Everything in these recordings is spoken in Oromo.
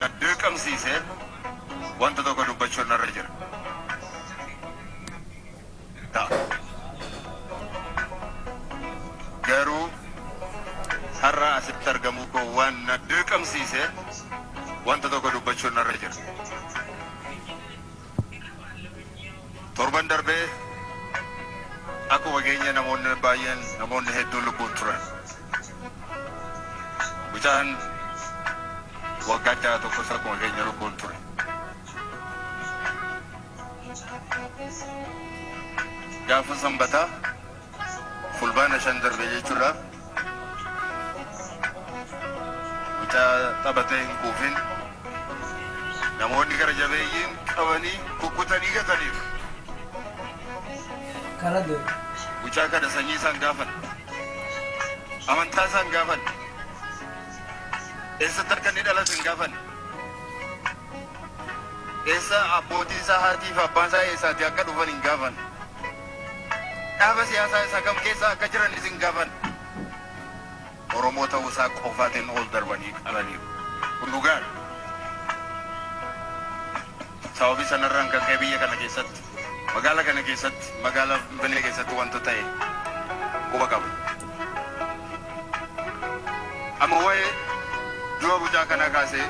na dirqamsiise wanta tokko dubbachuun narra jira. Ta'a. Garuu har'a asitti argamuu koo waan na dirqamsiise wanta tokko dubbachuun narra jira. Torban darbee akkuma keenya namoonni baay'een namoonni hedduun lubbuun turan. Mucaan waggaa ja'a tokkos akkuma keenya lubbuun ture. Gaafa Sanbataa Fulbaana shan darbe jechuudha. Mucaa taphatee hin quufin namoonni gara jabeeyyiin qabanii kukkutanii gataniiru. Mucaa kana sanyii isaan gaafan. Amantaa isaa hin gaafanne. Eessatti akka inni dhalate hin gaafanne. Eessa abbootii isaa haatii fi abbaan isaa eessaatii akka dhufan hin gaafanne. Dhaaba siyaasaa isaa kam keessa akka jiranis hin gaafanne. Oromoo ta'uu isaa qofaatiin ol darbanii qalaniiru. Kun dhugaadha. Sababii sanarraan kan ka'e biyya kana keessatti, magaala kana keessatti, magaala Finfinnee keessatti wanta ta'e quba qaba. Amma wa'ee du'a mucaa kanaa kaasee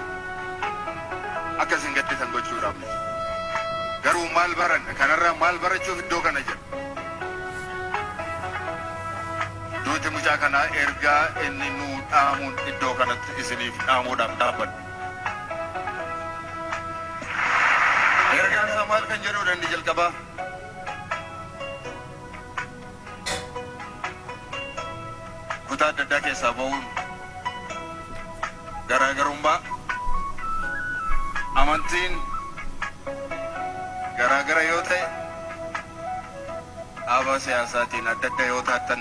akka isin gadditan gochuudhaaf miti. Garuu maal baranna? Kanarraa maal barachuuf iddoo kana jirra? Duuti mucaa kanaa ergaa inni nuu dhaamuun iddoo kanatti isiniif dhaamuudhaaf dhaabbanne. Ergaan isaa maal kan jedhuudha inni jalqabaa? Kutaa adda addaa keessaa ba'uun garaagarummaa amantiin garaagara yoo ta'e dhaabaa siyaasaatiin adda adda yoo taatan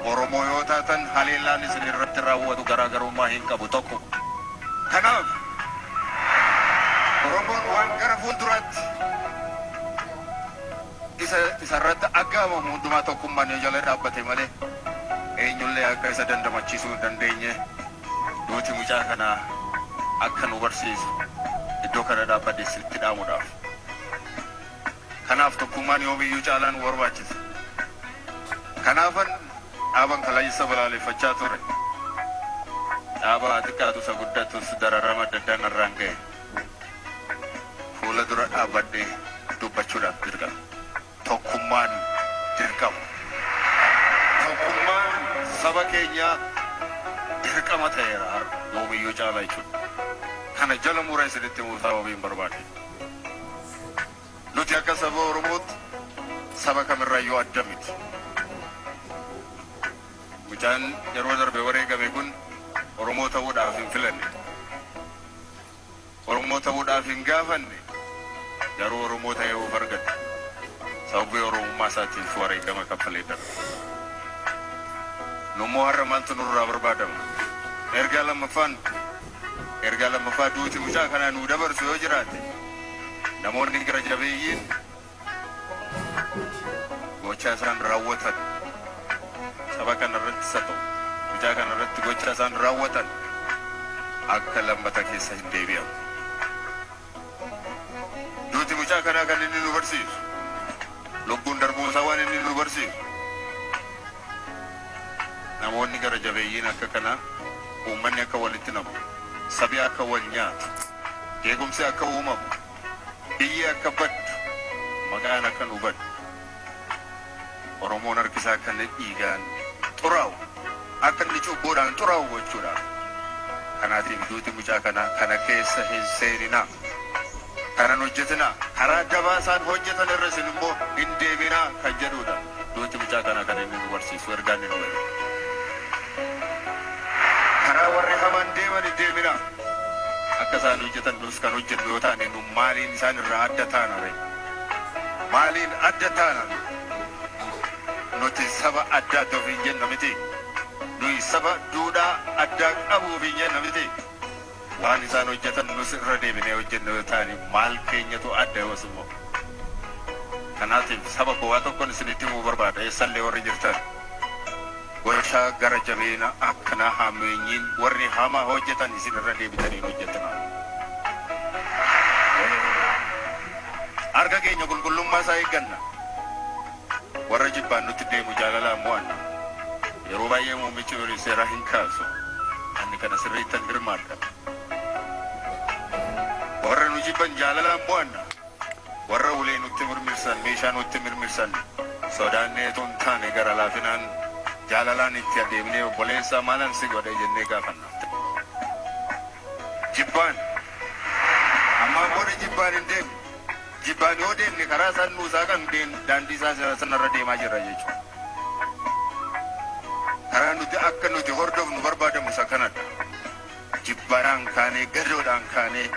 Oromoo yoo taatan haleellaan isin irratti raawwatu garaagarummaa hin qabu tokko. Kanaaf Oromoon waan gara fuulduraatti isa isa irratti aggaamamu hundumaa tokkummaan yoo jala dhaabbate malee eenyullee akka isa dandamachiisuu hin dandeenye duuti mucaa kanaa akka nu barsiisu iddoo kana dhaabbadhe isinitti dhaamuudhaaf. Kanaaf tokkummaan yoomiyyuu caalaan nu barbaachisa. Kanaafan dhaaban kaleessa balaaleffachaa ture dhaaba haa xiqqaatu isa guddatus dararama adda addaa narraan gahe fuula dura dhaabbadhee dubbachuudhaaf dirqame. Tokkummaan dirqama. Tokkummaan saba keenyaa dirqama ta'eera har'a yoomiyyuu caalaa jechuudha. Kana jala muree isinitti himuu sababiin barbaade. Nuti akka saba Oromootti saba kamirraayyuu adda miti. Mucaan yeroo darbe wareegame kun Oromoo ta'uudhaaf hin filanne. Oromoo ta'uudhaaf hin gaafanne, garuu Oromoo ta'ee of argate. Sababii Oromummaa isaatiif wareegama kaffalee darbe. Nummoo har'a maaltu nurraa barbaadama? Ergaa lammaffaan. Ergaa lammaffaa duuti mucaa kanaa nuu dabarsu yoo jiraate namoonni gara jabeeyyiin gochaa isaan raawwatan saba kana irratti isa ta'u mucaa kana irratti gochaa isaan raawwatan akka lammata keessa hin deebi'an. Duuti mucaa kanaa kan inni nu barsiisu, lubbuun darbuun isaa waan inni nu barsiisu, namoonni gara jabeeyyiin akka kanaa, uummanni akka walitti namu, sabi akka wal nyaatu, jeequmsi akka uumamu, biyyi akka baddu, maqaan akka nu badu, Oromoon harki isaa akka inni dhiigaan xuraa'u, akka inni cubbuudhaan xuraa'u gochuudha. Kanaatiif duuti mucaa kanaa kana keessa hin seeninaa. Kana hin hojjetinaa. Karaa dabaa isaan hojjetan irra isin immoo hin deeminaa kan jedhuudha. Duuti mucaa kanaa kan inni nu barsiisu, ergaa inni nu ergu. Karaa warri hamaan deeman hin deeminaa. Akka isaan hojjetan nus kan hojjennu yoo taane nu maaliin isaan irraa adda taana ree? Maaliin adda taana nuti? Nuti saba addaatti ofiin jenna miti. Nuyi saba duudhaa addaa qabu ofiin jenna miti. Waan isaan hojjetan nus irra deebinee hojjenna yoo taane maal keenyatu adda yoos immoo? Kanaatiif saba koo waa tokkon isinitti himuu barbaada eessallee warri jirtan. Warshaa gara jabeena akkana hammeenyiin warri hamaa hojjetan isin irra deebitanii hin hojjetinaa. Harka keenya qulqullummaa isaa eegganna. Warra jibbaan nutti deemu jaalalaan mo'anna. Yeroo baay'ee muummichi ministeeraa hin kaasu. Ani kana sirriittan hirmaadha. Warra nu jibban jaalalaan mo'anna. Warra ulee nutti mirmirsan, meeshaa nutti mirmirsan sodaannee utuu hin taane gara laafinaan, jaalalaan itti adeemnee obboleessa maalan si godhe jennee gaafanna. Jibbaan, Ammaan booda jibbaan hin deemnu. Jibbaan yoo deemne karaa isaan nuu saaqan daandii isaa sanarra deemaa jirra jechuudha. Karaa nuti akka nuti hordofnu barbaadamu isa kanadha. Jibbaraan kaanee, gadoodhaan kaanee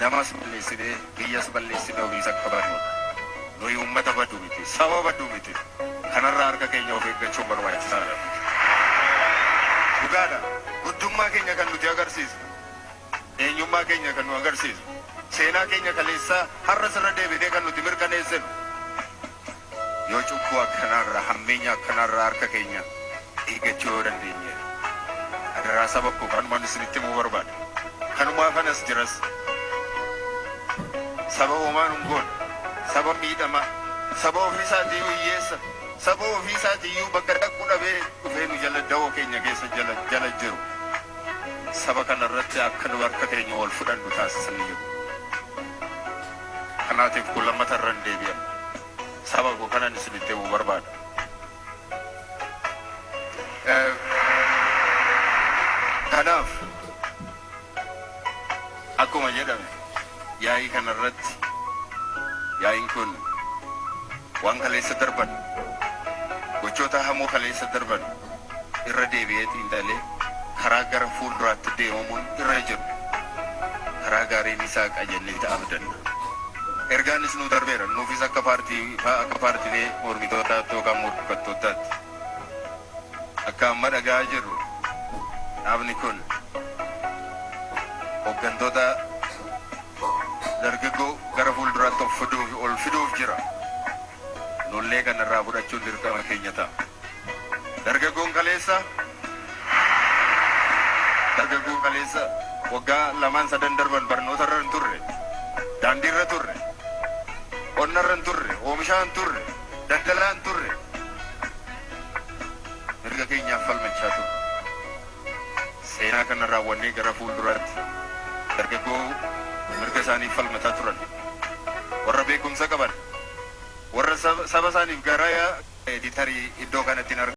namas balleessinee, biyyas balleessinee ofiis akka badnu dha. Nuyi uummata badu miti, saba badu miti. Kanarraa harka keenya of eeggachuun barbaachisaa dha. Dhugaa dha, guddummaa keenya kan nuti agarsiisnu, eenyummaa keenya kan nu agarsiisnu, seenaa keenya kaleessaa har'as irra deebinee kan nuti mirkaneessinu, Yoo cubbuu akkanaa irraa, hammeenya akkanaa irraa harka keenya eeggachuu yoo dandeenye dha. Adaraa saba koo kanuman isinitti himuu barbaada. Kanumaafan as jiras. Saba homaa nu hin goone, saba miidhamaa, saba ofii isaatii iyyuu hiyyeessa, saba ofii isaatii iyyuu bakka dhaqu dhabee dhufee nu jala dawoo keenya keessa jala jala jiru. Saba kana irratti akka nu harka keenya wal fudhannu taasisan hin jiru. Kanaatiif kun lammata irra hin deebi'amu. Saba koo kanan isinitti himu barbaada. Kanaaf akkuma jedhame yaa'ii kana irratti yaa'iin kun waan kaleessa darban gochoota hamoo kaleessa darban irra deebi'ee xiinxalee karaa gara fuulduraatti deemamuun irra jiru karaa gaariin isaa qajeelleeti abdanna. Ergaanis nuu darbeera. Nuufis akka paartii akka paartilee mormitootaatti yookaan morkattootaatti akka amma dhaga'aa jirru dhaabni kun hoggantoota dargaggoo gara fuulduraatti of fiduuf ol fiduuf jira. Nullee kanarraa fudhachuun dirqama keenya ta'a. Dargaggoon kaleessa Dargaggoon kaleessa waggaa lamaan sadan darban barnoota irra hin turre, daandii irra turre, qonna irra hin turre, oomishaa hin turre, daldalaa hin turre. Mirga keenyaaf falmachaa turre. Seenaa kana raawwannee gara fuulduraatti dargaggoo mirga isaaniif falmataa turan, warra beekumsa qaban, warra saba isaaniif garaa yaa'u ta'e tarii iddoo kanatti hin argamu.